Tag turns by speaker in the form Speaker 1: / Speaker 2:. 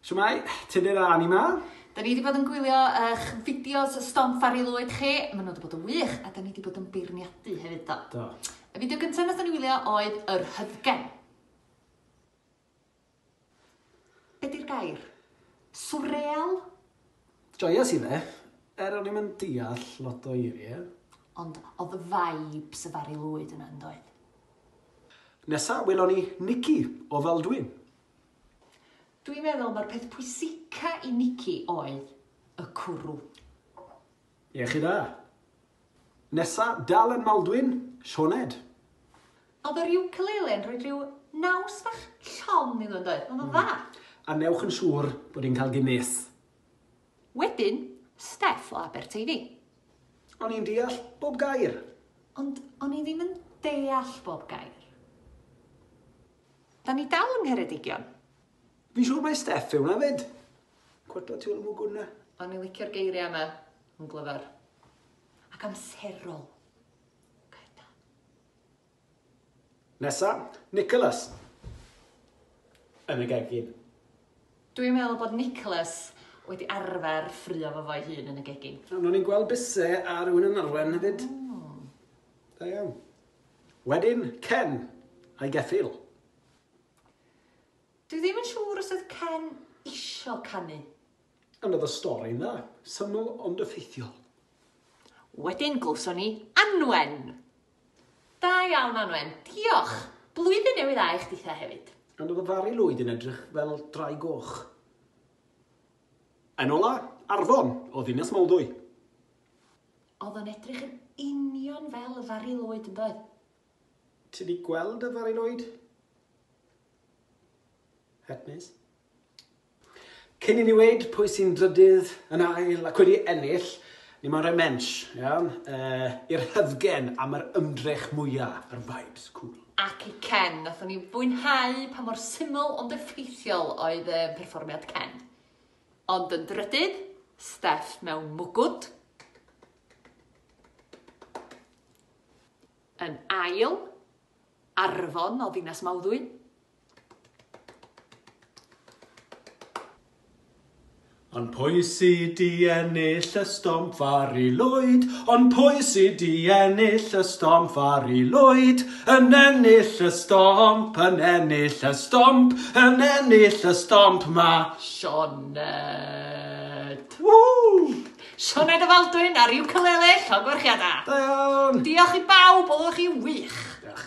Speaker 1: Shwmae, Tudur a Annie 'ma. Da ni wedi bod yn
Speaker 2: gwylio eich fideos Stomp Fari Lwyd chi. Maen nhw wedi bod yn wych a da ni wedi bod yn beirniadu hefyd do. Do. Y fideo
Speaker 1: gyntaf nath
Speaker 2: ni wylio oedd Yr Hyddgen. Be di'r gair? Swreal?
Speaker 1: Joyous i fe. Er o'n i'n deall lot o eiriau. Ond oedd
Speaker 2: vibes y Fari Lwyd yna yn doedd?
Speaker 1: Nesa, welon ni Nicky o Faldwyn.
Speaker 2: Dwi'n meddwl mae'r peth pwysica i Nikki oedd y cwrw.
Speaker 1: Iechyd da. Nesa, dal yn Maldwyn, Sioned.
Speaker 2: Oedd yr ukulele yn rhoi rhyw naws bach llon iddo yn oedd? Oedd o'n dda. A newch yn
Speaker 1: siŵr bod hi'n cael Guinness.
Speaker 2: Wedyn, Steff o Aberteifi. O'n i'n
Speaker 1: deall bob gair. Ond
Speaker 2: o'n i ddim yn deall bob gair. Da ni dal yng Ngheredigion. Fi'n siŵr
Speaker 1: mai Steff yw hwnna 'fyd. Cwrt o tiwn mwgwn 'na. O'n i licio'r geiriau
Speaker 2: yma. Yn glyfar. Ac amserol. Gair da.
Speaker 1: Nesa, Nicholas. Yn y gegin. Dwi'n
Speaker 2: meddwl bod Nicholas wedi arfer ffrio fo fo'i hun yn y gegin. O'n i'n gweld bise
Speaker 1: ar rhywun yn arwen hefyd. Da iawn. Wedyn Ken a'i geffyl.
Speaker 2: Dwi ddim yn siŵr os oedd Ken isio canu. And oedd y
Speaker 1: stori'n dda. Syml ond effeithiol.
Speaker 2: Wedyn glywson ni Anwen. Da iawn Anwen, diolch! Blwyddyn Newydd Dda i chdi the hefyd. And oedd y Fari Lwyd
Speaker 1: yn edrych fel drai goch. Yn ola, Arfon, o ddinas Mawddwy.
Speaker 2: Oedd o'n edrych yn union fel y Fari Lloyd, yn doedd? Ti
Speaker 1: 'di gweld y Fari Lloyd? Het mis. Cyn i ni weud pwy sy'n drydydd yn ail ac wedi ennill, ni mae'n rhoi mensh, iawn, uh, i'r hyfgen am yr ymdrech mwyaf, yr vibes, cool. Ac i Ken,
Speaker 2: nathon ni fwynhau pa mor syml ond effeithiol oedd y perfformiad Ken. Ond yn drydydd, Steff mewn mwgwd. Yn ail, Arfon o ddinas Mawddwy. Ond
Speaker 1: pwy sy di ennill y stom fari lwyd? Ond pwy sy di ennill y stom fari lwyd? Yn ennill y stomp, yn ennill y stomp, yn ennill y stomp ma.
Speaker 2: Sioned! Woo!
Speaker 1: Sioned o
Speaker 2: Faldwyn ar
Speaker 1: ukulele,
Speaker 2: llongorchiada! Da iawn! Diolch i bawb,
Speaker 1: oeddech
Speaker 2: chi wych! Diolch.